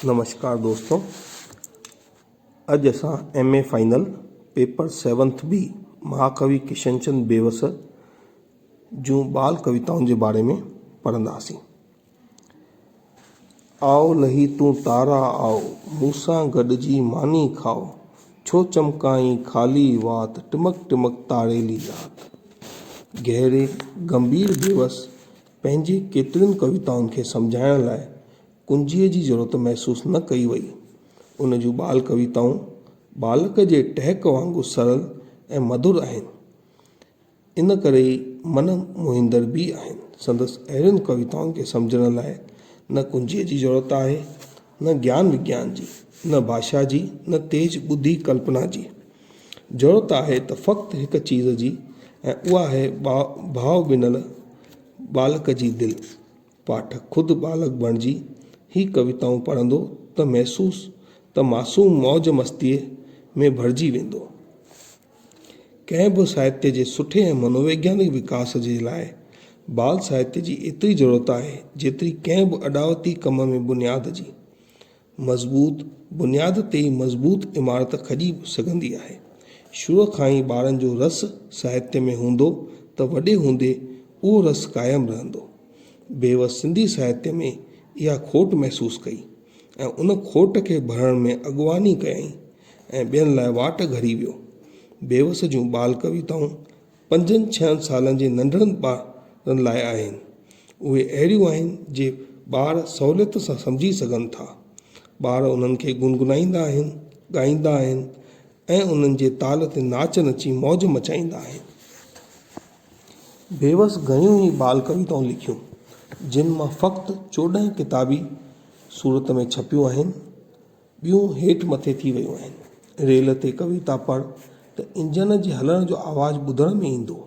نمشڪار دوستو اڄ اسان M A final paper seventh B مهاڪوي ڪشن چند بيوس جون ٻال ڪويتائن جي باري ۾ پڙهنداسين آء لهي تون تارا آء مون سان گڏجي ماني کاء ڇو چمڪائين خالي وات ٽمڪ ٽمڪ تاريلي رات گهري گنڀير بيوس پنهنجي ڪيترين ڪويتائن کي سمجهائڻ لاء ڪنجيء جي ضرورت محسوس نه ڪئي وئي. ان جون ٻال ڪويتائون ٻالڪ جي ٽهڪ وانگر سرل ۽ مڌر آهن. ان ڪري ئي من موهيندڙ به آهن. سندس اهڙين ڪويتائن کي سمجهڻ لاء نه ڪنجيء جي ضرورت آهي، نه گيان وگيان جي، نه ڀاشا جي، نه تيز ٻڌي ڪلپنا جي. ضرورت آهي ته فقط هڪ چيز جي ۽ اها آهي ڀاء ڀنل ٻالڪ جي دل. پاٺڪ خود ٻالڪ بڻجي هي ڪويتائون پڙهندو ته محسوس ته معصوم موج مستيء ۾ ڀرجي ويندو. ڪنهن به ساهتيه جي سٺي ۽ منوويگيانڪ وڪاس جي لاء ٻال ساهتيه جي ايتري ضرورت آهي جيتري ڪنهن به اڏاوتي ڪم ۾ بنياد جي. مضبوط بنياد تي ئي مضبوط عمارت کڄي سگهندي آهي. شروع کان ئي ٻارن جو رس ساهتيه ۾ هوندو ته وڏي هوندي اهو رس قائم رهندو. بيوس سنڌي ساهتيه ۾ اها کوٽ محسوس ڪئي ۽ ان کوٽ کي ڀرڻ ۾ اڳواڻي ڪيائين ۽ ٻين لاء واٽ گهڙي ويو. بيوس جون ٻال ڪويتائون پنجن ڇهن سالن جي ننڍڙن ٻارن لاء آهن. اهي اهڙيون آهن جي ٻار سهوليت سان سمجهي سگهن ٿا. ٻار انهن کي گنگنائيندا آهن، ڳائيندا آهن ۽ انهن جي تال تي ناچ نچي موج مچائيندا آهن. بيوس گهڻيون ئي ٻال ڪويتائون لکيون جن مان فقط چوڏهن ڪتابي صورت ۾ ڇپيون آهن. ٻيون هيٺ مٿي ٿي ويون آهن. ريل تي ڪويتا پڙهه ته انجن جي هلڻ جو آواز ٻڌڻ ۾ ايندو.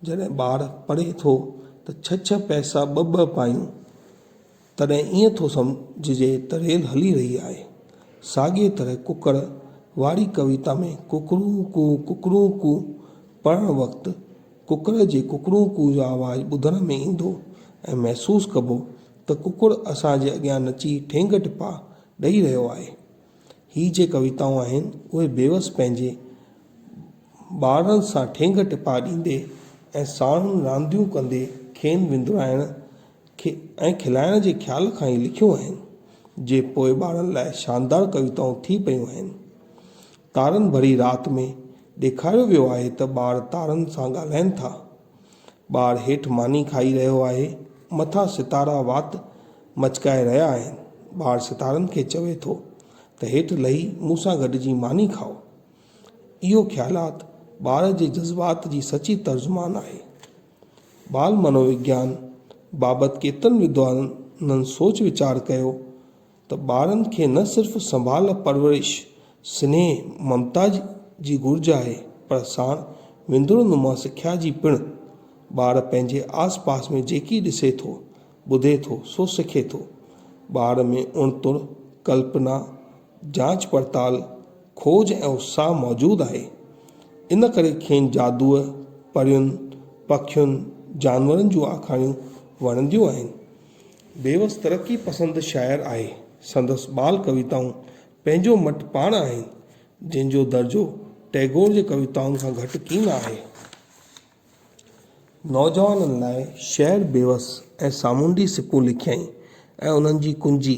جڏهن ٻار پڙهي ٿو ته ڇهه ڇهه پئسا ٻه ٻه پايون تڏهن ائين ٿو سمجهجي ته ريل هلي رهي آهي. ساڳيء طرح ڪڪڙ واري ڪويتا ۾ ڪڪڙون ڪو ڪڪڙون ڪو پڙهڻ وقت ڪڪڙ جي ڪڪڙون ڪو جو آواز ٻڌڻ ۾ ايندو ۽ محسوس ڪبو ته ڪڪڙ اسان جي اڳيان نچي ٺينگ ٽپا ڏئي رهيو آهي. هي جي ڪويتائون آهن اهي بيوس پنهنجي ٻارڙن سان ٺينگ ٽپا ڏيندي ۽ ساڻن رانديون ڪندي کين وندرائڻ ۽ کلائڻ جي خيال کان ئي لکيون آهن جي پوء ٻارڙن لاء شاندار ڪويتائون ٿي پيون آهن. تارن ڀري رات ۾ ڏيکاريو ويو آهي ته ٻار تارن سان ڳالهائين ٿا. ٻار هيٺ ماني کائي رهيو آهي. مٿان ستارا وات مچڪائي رهيا آهن. ٻار ستارن کي چوي ٿو ته هيٺ لهي مون سان گڏجي ماني کائو. اهو خيالات ٻار جي جذبات جي سچي ترجمان آهي. ٻال منووگيان بابت ڪيترن ودوانن سوچ ويچار ڪيو ته ٻارن کي نه صرف سنڀال پرورش، سنيهه ممتا جي گهرج آهي پر ساڻ وندر نما سکيا جي پڻ. ٻار پنهنجي آس پاس ۾ جيڪي ڏسي ٿو، ٻڌي ٿو سو سکي ٿو. ٻار ۾ اڻتڻ، ڪلپنا، جاچ پڙتال، کوج ۽ اتساهه موجود آهي. ان ڪري کين جادوء، پرين، پکين، جانورن جون آکاڻيون وڻنديون آهن. بيوس ترقي پسند شاعر آهي. سندس ٻال ڪويتائون پنهنجو مٽ پاڻ آهن، جنهن جو درجو ٽئگور جي ڪويتائن کان گهٽ ڪين آهي. نوجوانن لاء شعر بيوس ۽ سامونڊي سڪون لکيائين ۽ انهن جي ڪنجي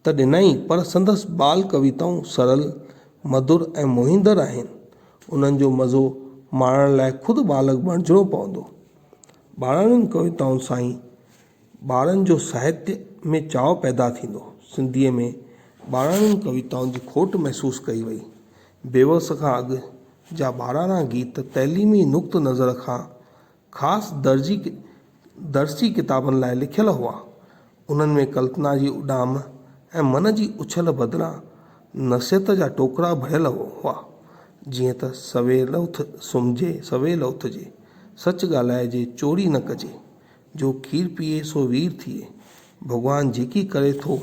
ته ڏنائين پر سندس ٻال ڪويتائون سرل، مڌر ۽ موهيندڙ آهن. انهن جو مزو ماڻڻ لاء خود ٻالڪ بڻجڻو پوندو. ٻاراڻين ڪويتائن سان ئي ٻارن جو ساهتيه ۾ چاء پيدا ٿيندو. سنڌيء ۾ ٻاراڻين ڪويتائن جي کوٽ محسوس ڪئي وئي. بيوس کان اڳ جا ٻاراڻا گيت تعليمي نقطه نظر کان خاص درجي درسي ڪتابن لاء لکيل هئا. انهن ۾ ڪلپنا جي اڏام ۽ من جي اڇل بدران نصيحت جا ٽوڪرا ڀريل هئا. جيئن ته سويل اٿ سمهجي سويل اٿجي، سچ ڳالهائجي چوري نه ڪجي، جو کير پيئي سو وير ٿئي. ڀڳوان جيڪي ڪري ٿو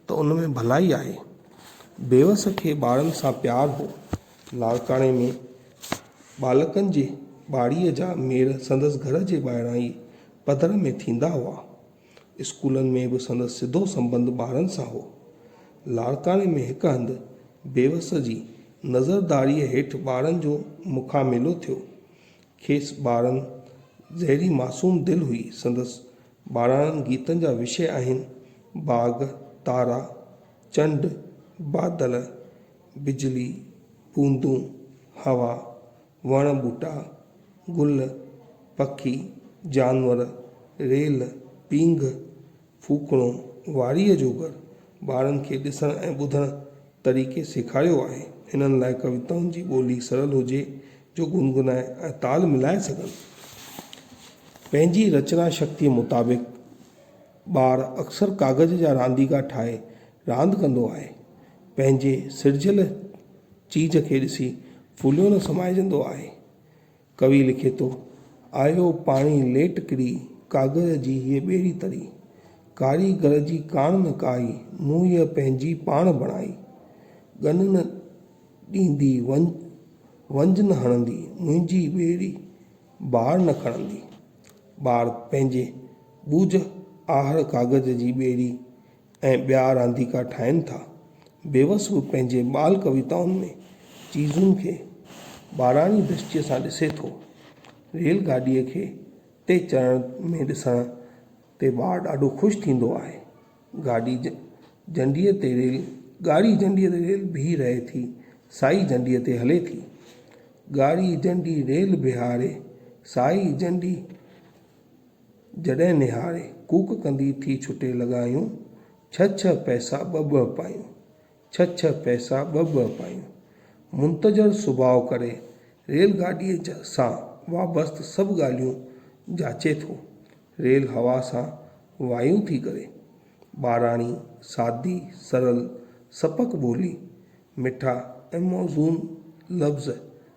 ته ان ۾ ڀلائي آهي. بيوس کي ٻارن سان پيار هو. لاڙڪاڻي ۾ ٻالڪن جي ٻاڙيء جا ميڙ سندس گهر جي ٻاهران ئي پڌر ۾ ٿيندا هئا. اسڪولن ۾ به سندس سڌو سنٻنڌ ٻارن سان هو. لاڙڪاڻي ۾ هڪ هنڌ بيوس جي نظرداريء هيٺ ٻارن جو مکاميلو ٿيو. کيس ٻارن جهڙي معصوم دل هئي. سندس ٻاراڻن گيتن جا وشي آهن، باغ، تارا، چنڊ، بادل، بجلي، بوندون، هوا، وڻ ٻوٽا، گل، پکي، جانور، ريل، پينگهه، ڦوڪڻو، واريء جو گهر، ٻارن کي ڏسڻ ۽ ٻڌڻ طريقي سيکاريو آهي. هنن لاء ڪويتائن جي ٻولي سرل هجي جو گنگنائي ۽ تال ملائي سگهن. پنهنجي رچنا شڪتيء مطابق ٻار اڪثر ڪاغذ جا رانديڪا ٺاهي راند ڪندو آهي. پنهنجي سرجيل چيز کي ڏسي ڦليو نه سمائجندو آهي. ڪوي لکي ٿو، آيو پاڻي ليٽ ڪري، ڪاڳر جي هيء ٻيڙي تري. ڪاري گر جي ڪاڻ نه ڪائي، مون هيء پنهنجي پاڻ بڻائي. ڳن نه ڏيندي، ونج نه هڻندي، منهنجي ٻيڙي بار نه کڻندي. ٻار پنهنجي ٻوجهه آهر ڪاڳر جي ٻيڙي ۽ ٻيا رانديڪا ٺاهين ٿا. بيوسوء پنهنجي ٻال ڪويتائن ۾ چيزن کي ٻاراڻي درشٽيء سان ڏسي ٿو. ريل گاڏيء کي تي چڙهڻ ۾ ڏسڻ تي ٻار ڏاڍو خوش ٿيندو آهي. گاڏي جنڊيء تي ريل ڳاڙهي جنڊيء تي ريل بيهي رهي ٿي، سائي جنڊيء تي هلي ٿي. ڳاڙهي جنڊي ريل بيهاري، سائي جنڊي. جڏهن نهاري ڪوڪ ڪندي ٿي ڇٽي لڳايون، ڇهه ڇهه پئسا ٻه ٻه پايون، ڇهه ڇهه پئسا ٻه ٻه پايون. منتظر سڀاء ڪري ريل گاڏيء سان وابست سڀ ڳالهيون جاچي ٿو. ريل هوا سان وايون ٿي ڪري. ٻاراڻي، سادي، سرل، سپڪ ٻولي، مٺا ۽ موزون لفظ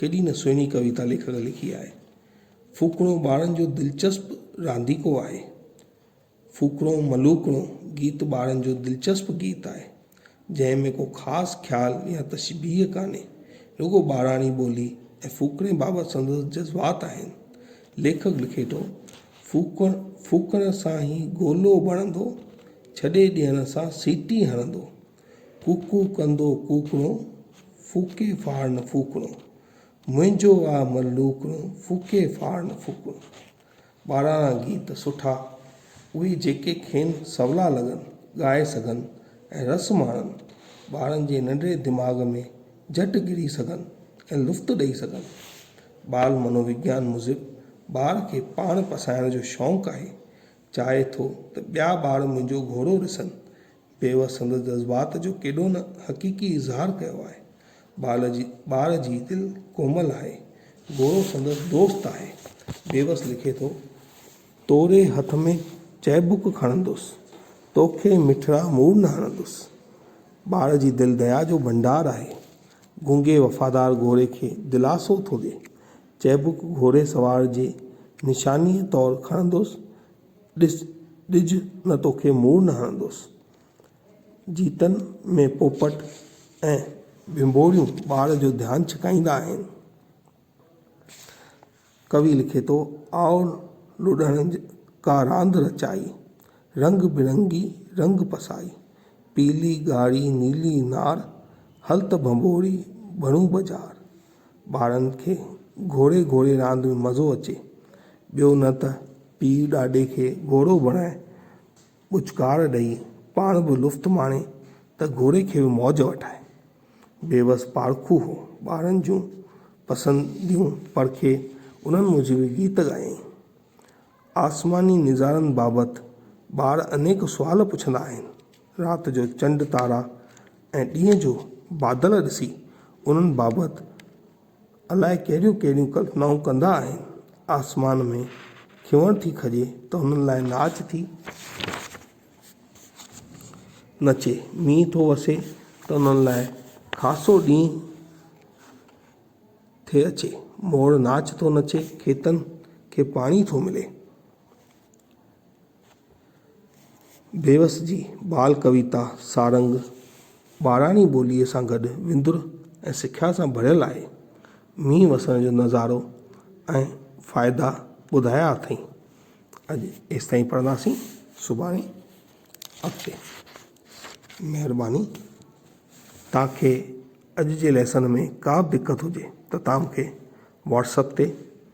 ڪيڏي نه سهڻي ڪويتا ليکڪ لکي آهي. ڦوڪڻو ٻارن جو دلچسپ رانديڪو آهي. ڦوڪڻو ملوڪڻو گيت ٻارن جو دلچسپ گيت آهي. جنهن ۾ ڪو خاص خيال يا تشبيهه ڪانهي. رڳو ٻاراڻي ٻولي ۽ ڦوڪڻي بابت سندس جذبات آهن. ليکڪ لکي ٿو، ڦوڪڻ ڦوڪڻ سان هي گولو بڻندو، ڇڏي ڏيڻ سان سيٽي هڻندو. ڪوڪو ڪندو ڪوڪڻو، ڦوڪي ڦاڙن ڦوڪڻو، منهنجو آ ملوڪڻو، ڦوڪي ڦاڙن ڦوڪڻو. ٻاراڻا گيت سٺا اهي جيڪي کين سولا لڳن، ڳائي سگهن ۽ رس ماڻن، ٻارن جي ننڍڙي دماغ ۾ جهٽ ڪري سگهن ۽ لفط ڏئي سگهن. ٻال منو وگيان موجب ٻار کي پاڻ پسائڻ جو شونق آهي، چاهي ٿو ته ٻيا ٻار منهنجو گهوڙو رسن. پيوس سندس جذبات جو ڪيڏو نه حقيقي اظهار ڪيو آهي. ٻار جي ٻار جي دل ڪومل آهي. گورو سندس دوست آهي. پيوس لکي ٿو. توري هٿ ۾ چئبوڪ کڻندس. توکي مٺڙا مورن هڻندس. ٻار جي دل ديا جو ڀنڊار آهي. گونگي وفادار گوري کي دلاسو ٿو ڏي. چئبوڪ گهوڙي سوار جي نشانيء طور کڻندس. ڏس ڏج نه توکي مور نه هڻندوس. جيتن ۾ پوپٽ ۽ ڀنڀوريون ٻار جو ڌيان ڇڪائيندا آهن. ڪوي لکي ٿو، آء لوڏڻ ڪا راند رچائي، رنگ برنگي رنگ پسائي، پيلي ڳاڙهي نيلي نار، هل ته ڀنڀوري ڀڻون بجار. ٻارن کي گهوڙي گهوڙي راند ۾ مزو اچي، ٻيو نه ته پيء ڏاڏي کي گهوڙو بڻائي، ٻچڪار ڏئي، پاڻ به لفط ماڻي ته گهوڙي کي به موج وٺائي. بيوس پارکو هو، ٻارن جون پسنديون پرکي انهن موجب ئي گيت ڳايائين. آسماني نظارن بابت ٻار انيڪ سوال پڇندا آهن. رات جو چنڊ تارا ۽ ڏينهن جو بادل ڏسي انهن بابت الاء ڪهڙيون ڪهڙيون ڪلپنائون ڪندا آهن. آسمان ۾ کيوڻ ٿي کڄي ته انهن لاء ناچ ٿي نچي، مينهن ٿو وسي ته انهن لاء خاصو ڏينهن ٿي اچي، موڙ ناچ ٿو نچي کيتن کي پاڻي ٿو ملي. بيوس جي ٻال ڪويتا سارنگ ٻاراڻي ٻوليء سان گڏ وندر ۽ سکيا سان ڀريل آهي. مينهن وسڻ جو نظارو ۽ فائدا ٻڌايا اٿئي. اڄ ايستائين پڙهنداسين سڀاڻي اڳتي. مهرباني توهان کي اڄ جي ليسن ۾ ڪا به دقت هجي ته توهان مونکي واٽس اپ تي